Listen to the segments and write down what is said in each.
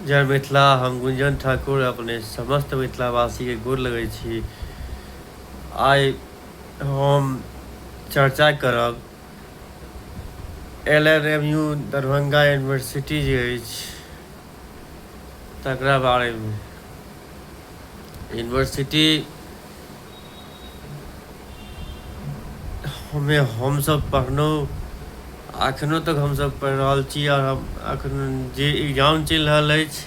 जय मिथिला हम गुंजन ठाकुर अपने समस्त मिथिलावासी के गोर लगै छी आइ हम चर्चा करब L N M U Darbhanga university जे अछि तकरा बारेमे यूनिवर्सिटी हमे हमसभ पढ़लहुँ एखनो तक हमसभ पढ़ि रहल छी आओर हम एखन जे एग्जाम चलि रहल अछि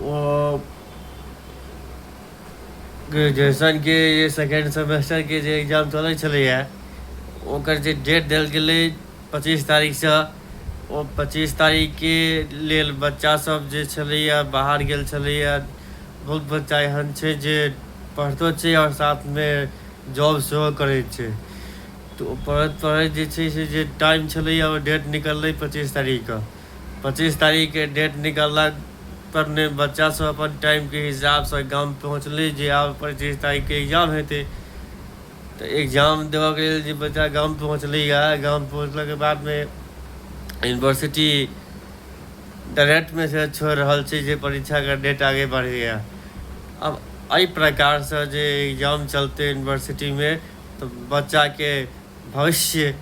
ओ ग्रेजुएशनके जे सेकेंड सेमेस्टरके जे एग्जाम चलै छलैए ओकर जे डेट देल गेलै पच्चीस तारीखसँ ओ पच्चीस तारीखके लेल बच्चासभ जे छलैए बाहर गेल छलैए बहुत बच्चा एहन छै जे पढ़ितो छै आओर साथमे जॉब सेहो करै छै तऽ ओ पढ़ैत पढ़ैत जे छै से जे टाइम छलैए ओ डेट निकललै पच्चीस तारीखके पच्चीस तारीखके डेट निकललाक पर ने बच्चासभ अपन टाइमके हिसाबसँ गाम पहुँचलै जे आब पच्चीस तारीखके एग्जाम हेतै तऽ एग्जाम देबऽके लेल जे बच्चा गाम पहुँचलैए गाम पहुँचलाके बादमे यूनिवर्सिटी डायरेक्ट मैसेज छोड़ि रहल छै जे परीक्षाके डेट आगे बढ़ैए अब एहि प्रकारसँ जे एग्जाम चलतै यूनिवर्सिटीमे तऽ बच्चाके भविष्य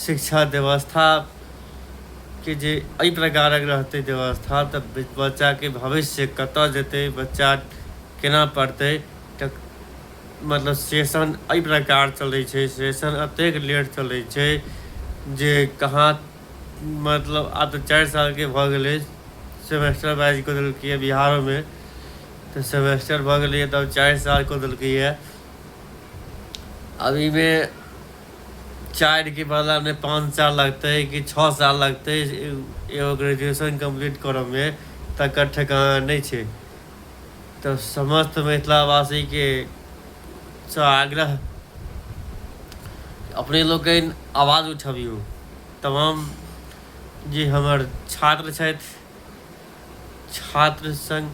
शिक्षा व्यवस्थाके जे एहि प्रकारक रहतै व्यवस्था तऽ बच्चाके भविष्य कतय जेतै बच्चा केना पढ़तै तऽ मतलब सेशन एहि प्रकार चलै छै सेशन एतेक लेट चलै छै जे कहाँ मतलब आब तऽ चारि सालके भऽ गेलै सेमेस्टर वाइज कऽ देलकैए बिहारोमे तऽ सेमेस्टर भऽ गेलैए तब चारि साल कऽ देलकैए अब एहिमे चारिके बदलामे पाँच साल लगतै कि छओ साल लगतै एगो ग्रेजुएशन कम्प्लीट करऽमे तकर ठेकान नहि छै तऽ समस्त मिथिलावासी के सँ आग्रह अपने लोकनि आवाज उठबियौ तमाम जे हमर छात्र छथि छात्र संग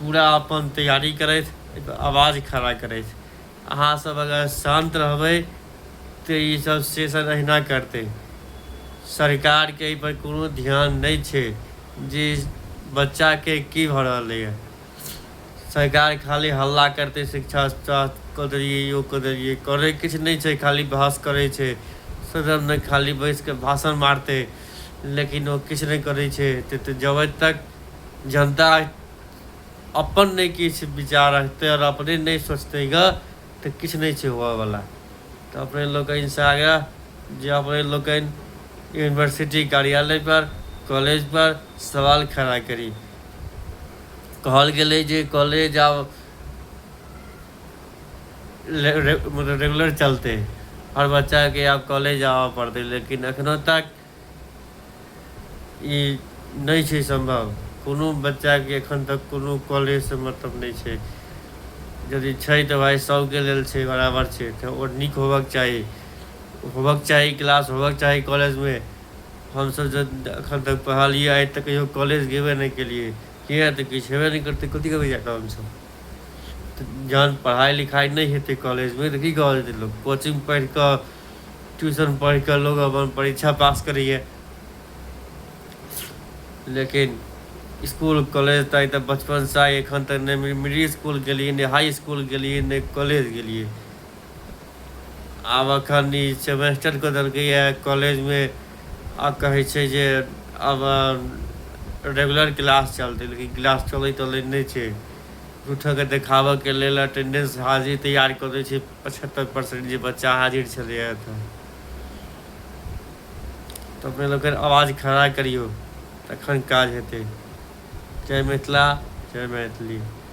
पूरा अपन तैयारी करथि आवाज खड़ा करथि अहाँ सब अगर शांत रहबै त ई सब सेशन अहिना करतै। सरकार के एहि पर कोनो ध्यान नै छै जे बच्चा के की भ रहलै य। सरकार खाली हल्ला करतै शिक्षा स्वास्थ्य क देलियै यो क देलियै। करै किछ नै छै खाली बहस करै छै। सदन मे खाली बैस क भाषण मारतै लेकिन ओ किछ नै करै छै। जबै तक जनता अपन नहि किछु विचार रखतै आओर अपने नहि सोचतै ग तऽ किछु नहि छै होबयवला तऽ अपने लोकनिसँ आगे जे अपने लोकनि यूनिवर्सिटी कार्यालयपर कॉलेजपर सवाल खड़ा करी कहल गेलै जे कॉलेज आब मतलब रेगुलर चलतै हर बच्चाके आब कॉलेज आबय पड़तै लेकिन एखनहु तक ई नहि छै सम्भव कोनो बच्चाके एखन तक कोनो कॉलेजसँ मतलब नहि छै यदि छै तऽ भाइ सभके लेल छै बराबर छै तऽ ओ नीक होबक चाही होबक चाही क्लास होबक चाही कॉलेजमे हमसभ जे एखन तक पढ़लियै आइ तक कहियो कॉलेज गेबे नहि केलियै किए तऽ किछु हेबे नहि करतै कथी करबै जा कऽ हमसभ तऽ जहन पढ़ाइ लिखाइ नहि हेतै कॉलेजमे तऽ की कऽ जेतै लोक कोचिंग पढ़ि कऽ ट्यूशन पढ़ि कऽ लोग अपन परीक्षा पास करैए लेकिन इसकुल कॉलेज तऽ तऽ बचपनसँ आइ एखन तक नहि मिडिल इसकुल गेलियै नहि हाई इसकुल गेलियै नहि कॉलेज गेलियै आब एखन ई सेमेस्टर कऽ देलकैए कॉलेजमे आ कहै छै जे आब रेगुलर क्लास चलतै लेकिन क्लास चलै तलै नहि छै झूठोके देखाबऽके लेल अटेंडेंस हाजिरी तैयार कऽ दै छै पचहत्तर परसेंट जे बच्चा हाजिर छलैए तऽ तऽ अपने लोकनि आवाज खड़ा करियौ तखन काज हेतै जय मिथिला जय मैथिली